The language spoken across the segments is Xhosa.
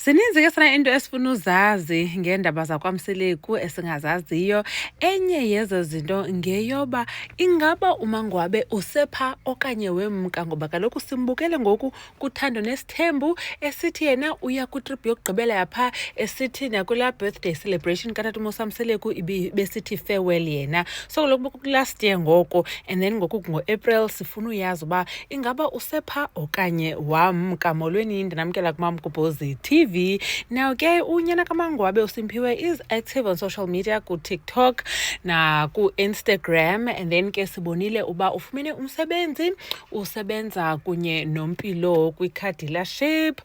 Zininzi ke sana into esifuna uzazi ngeendaba zakwamseleku esingazaziyo. Enye yezo zinto ngeyoba ingaba umangwabe usepha okanye wemka ngoba kaloku simbukele ngoku kuthando nesithembu esithi yena uya kwitrip yokugqibela yapha esithi nakulaa birthday celebration katata umosamseleku besithi farewell yena so kaloku kulast year ngoko and then ngoku ngoapril sifuna uyazi uba ingaba usepha okanye wamka molweni ndinamkela kumamgubhozi tv now ke unyana kamangwabe usimphiwe is active on social media kutiktok nakuinstagram and then ke sibonile uba ufumene umsebenzi usebenza kunye nompilo kwicardealership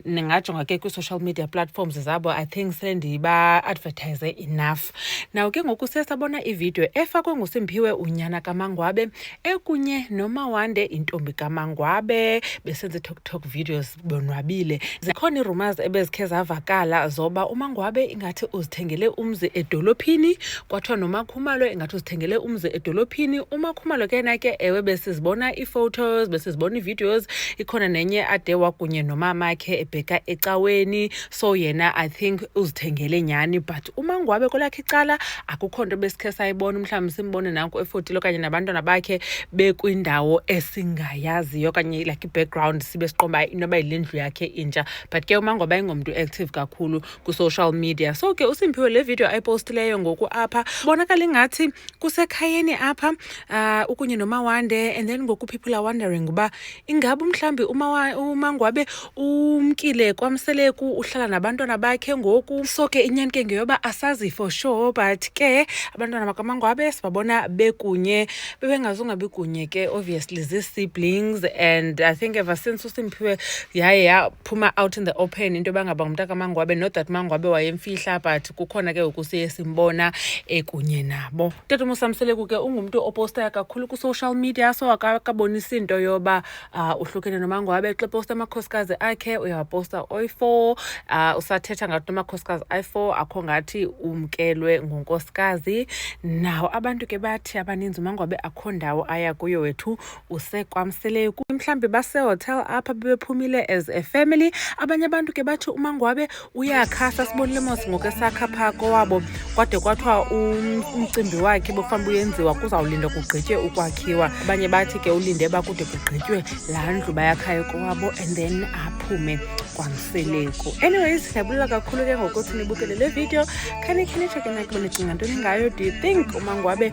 ndingajonga ke kwi-social media platforms zabo i think sendiba-advertise enough Nawo ke ngoku siye sabona ividiyo efakwe nguSimphiwe unyana kaMangwabe ekunye noMawande intombi kaMangwabe besenza iToktok videos bonwabile. Zikhona iirumours ebezikhe zavakala zoba uMangwabe ingathi uzithengele umzi edolophini kwathiwa noMakhumalo ingathi uzithengele umzi edolophini. UMakhumalo ke na ke ewe besizibona iiphotos besizibona iivideos ikhona nenye ade wakunye nomamakhe ebheka ecaweni so yena i think uzithengele nyhani but umangwabe kwelakhe icala akukho nto besikhe sayibona umhlawumbi simbone nanko efotile okanye nabantwana bakhe bekwindawo esingayaziyo okanye like i-background sibe siqomba inoba yile ndlu yakhe intsha but ke umangwabe ayingomntu active kakhulu kwi-social media so ke usimphiwe le video ayipostileyo ngoku apha bonakala ingathi kusekhayeni apha uh, ukunye nomawande and then ngoku people are wondering uba ingaba mhlawumbi umangwabe umkile kwamseleku uhlala nabantwana bakhe ngoku so ke inyani ke ngeyoba asazi for sure but ke abantwana bakamangwabe sibabona bekunye bebengazunga bekunye ke obviously zii-siblings and i think ever since usimphiwe yaye yaphuma out in the open into yoba ngaba ngumntu akamangwabe not that mangwabe wayemfihla but kukhona ke ngoku siye simbona ekunye nabo tata umusamseleku ke ungumntu opostayo kakhulu kwi-social media so akabonisi into yoba uh, uhlukene nomango wabe xa posta amakhosikazi akhe uyawaposta oyi-four uh, usathetha ngathi nomakhosikazi ayi-four akho ngathi umkelwe ngunkosikazi nawo abantu ke bathi abaninzi umango wabe akho ndawo aya kuyo wethu usekwamseleyo kuyo mhlawumbi basehotel apha bebephumile as a family abanye abantu ke bathi umangwabe uyakhasa sibonile mos ngoku esakha phaa kowabo kwade kwathiwa um, umcimbi wakhe bokufanele uyenziwa kuzawulinda kugqitye ukwakhiwa abanye bathi ke ulinde bakude kugqitywe laa ndlu bayakhayo kowabo and then aphume kwamseleku anyways ndiyabulela kakhulu ke ngokuthi nibukele le video khanikhani tsheke nakuba nicinga ntoni ngayo do you think umangwabe